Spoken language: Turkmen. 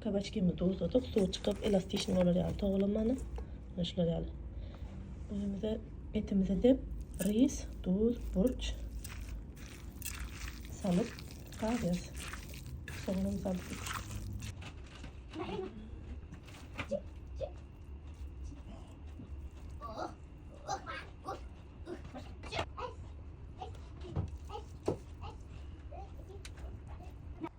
Kabaçkimizi duzladyk. Suwy çykyp, elastişni bolar ýaly togalamany. Mana şular ýaly. Öýümizde etimizi dep, ris, duz, burç salyp gaýdýas. Soňam salyp.